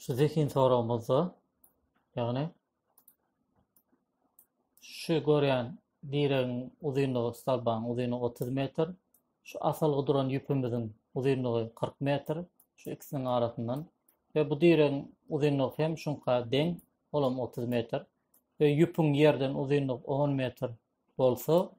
şu zehin soragymyzda ýagny şu görýän diregiň uzynlygy stolbaň uzynlygy 30 metr, şu asalgy duran ýüpümiziň uzynlygy 40 metr, şu ikisiniň arasyndan we bu diregiň uzynlygy hem şuňka deň, olam 30 metr we ýüpüň ýerden uzynlygy 10 metr bolsa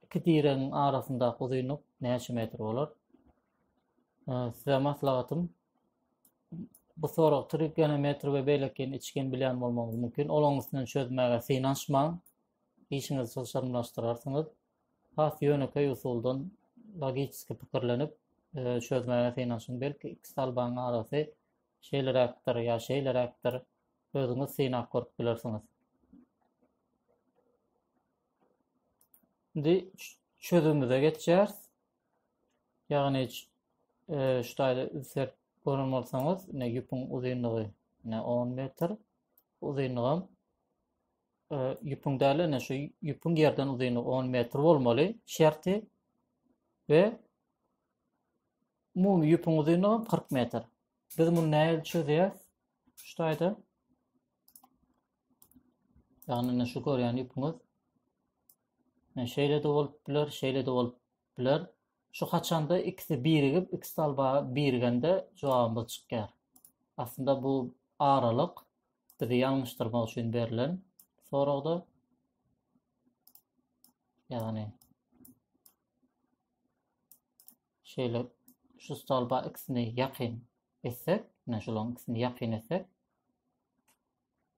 iki diregiň arasyndaky uzynlyk näçe metr bolar? Size maslahatym bu sorag trigene metr we beýleki içgen bilýän bolmagyňyz mümkin. Olaryň üstünden çözmäge synanyşmaň. Işiňizi çylşyrymlaşdyrarsyňyz. Has ýönekeý usuldan logiki pikirlenip e, çözmäge synanyşyň. Belki iki salbaň arasy şeýleräkdir ýa şeýleräkdir. Özüňiz synap görüp bilersiňiz. Indi çözümimize geçýäris. Ýagny e, şu taýda insert gören bolsaňyz, ne ýüpüň uzynlygy ne 10 metr, uzynlygam e, ýüpüň däl, ne şu ýüpüň ýerden uzynlygy 10 metr bolmaly şerti we umumy ýüpüň uzynlygy 40 metr. Biz muny nähili çözýäris? Şu taýda Ýagny indi şu görýän ýüpüňiz şeýle-de bolup biler, şeýle-de bolup biler. Şu haçanda ikisi birigip, iki salba birigende jogabymyz çykýar. Aslynda bu aralyk bizi ýalňyşdyrmak üçin berlen soragda. Ýagny şeýle şu salba ikisini ýakyn etsek, ne şularyň ikisini ýakyn etsek,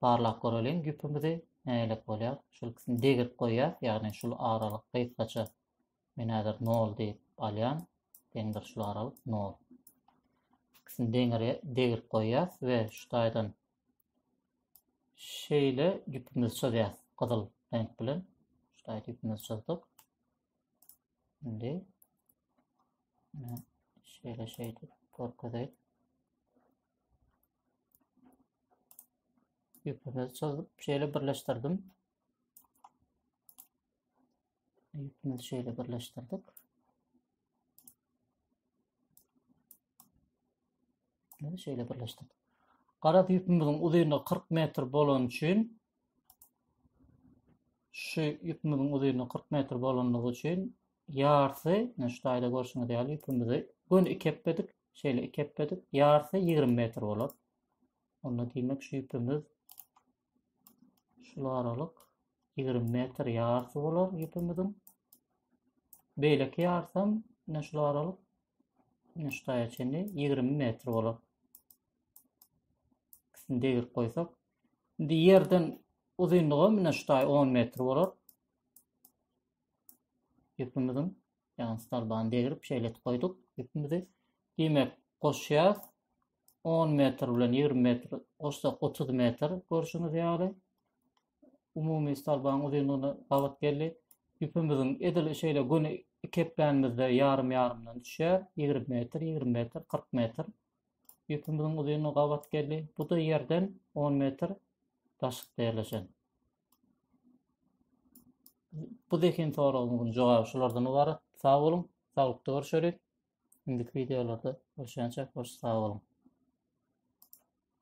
barlap göreliň ýüpümizi nälik bolýar. Şul ikisini degirip goýýas, ýagny şul aralyk gysgaça men häzir 0 diýip alýan. Deňdir şul aralyk 0. İkisini deňir degirip goýýas we şu taýdan şeýle ýüpümizi çözýäs gyzyl reňk bilen. Şu taýda ýüpümizi çözdük. Indi şeýle şeýdip görkezeyim. Ýüpümi çyzyp, şeýle birleşdirdim. Ýüpümizi şeýle birleşdirdik. Meni şeýle birleşdirdik. Gara ýüpümiziň uzynlygy 40 metr bolan üçin şu ýüpümiziň uzynlygy 40 metr bolanlygy üçin ýarsy, şu taýda görşüňiz ýaly ýüpümizi göni iki epledik. şeýle iki ep edip, ýarsy 20 metr bolar. Onda diýmek şu ipimiz şul aralyk 20 metr ýarsy bolar ipimiziň. Beýleki ýarsam, ine şul aralyk ine şu taýa çenli 20 metr bolar. Ikisini degirip goýsak, indi ýerden uzynlygy ine şu taý 10 metr bolar. Ipimiziň Ýagny starbany degrip şeýle goýduk ýüpimizi. Diýmek, goşýas 10 metr bilen 20 metr goşsak 30 metr görşüňiz ýaly umumy starbaň uzynlygyna gabat geldi. Ýüpimiziň edil şeýle göni iki eplänimizde ýarym ýarymdan düşýär. 20 metr, 20 metr, 40 metr. Ýüpimiziň uzynlygy gabat geldi. Bu da ýerden 10 metr daşyk derleşen. Bu zehin soragymyzyň jogaby şulardan ybarat. Sag boluň, saglykda görüşeris. Indiki videolarda görüşýänçäk hoş sag boluň.